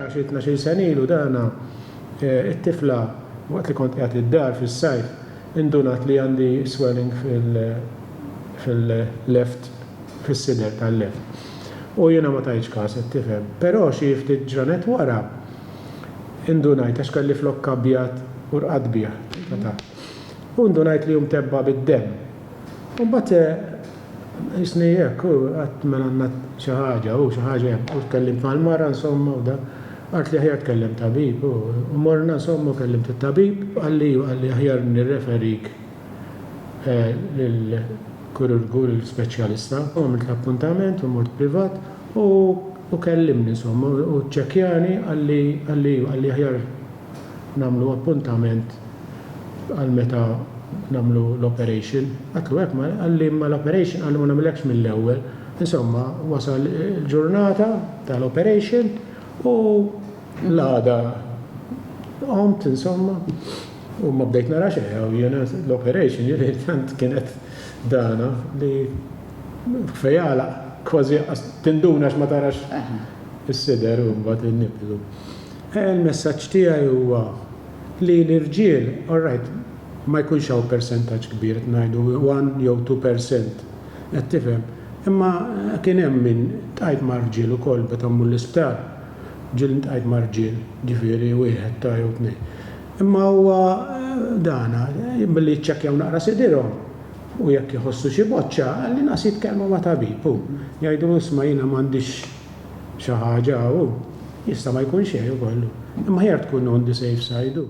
Jiena xi tnax-il sena ilu dana, it-tifla waqt li kont qiegħed id-dar fis-sajf indunat li għandi swelling fil-left, fis-sider tal-left. U jiena ma tajtx każ, qed tifhem. Però xi ftit ġranet wara indunajt għax kelli flokk abjad u rqadt bih ta' taħt. U ndunajt li hu mtebba' bid-demm. U mbagħad jisni hekk u qatt mela għandna xi ħaġa u xi ħaġa hekk u tkellimt mal-mara insomma u da qalt li aħjar tkellem tabib u morna insomma u kellimt it-tabib qalli u qalli aħjar nirreferik eh, lil kururgu lil speċjalista u għamilt l-appuntament u mort privat u u kellimni insomma u ċċekkjani qalli qalli qalli aħjar nagħmlu appuntament għal meta nagħmlu l-operation. Għatlu hekk, ma qalli ma l-operation qalli ma nagħmilekx mill-ewwel. Insomma, wasal il-ġurnata tal-operation u l-għada qomt insomma u ma bdejt nara xejn u jiena l-operation jiena tant kienet dana li fejala kważi tinduna x'ma tarax is-sider u mbagħad in-nipple. Il-messaġġ tiegħi huwa li l-irġiel, alright, ma jkunx hawn persentaġġ kbir, qed ngħidu one jew two per cent, qed tifhem, imma kien hemm min, ltqajt ma' rġiel ukoll meta mmur l-isptar, ġieli ltqajt ma' rġiel, ġifieri wieħed ta' jew tnejn. Imma huwa dan, billi jiċċekkjaw naqra sidirhom u jekk iħossu xi boċċa, l-inqas jitkellmu ma' tabib u jgħidulu isma' jiena m'għandix, xi ħaġa u jista' ma jkun xejn ukoll, imma aħjar tkun on the safe side u.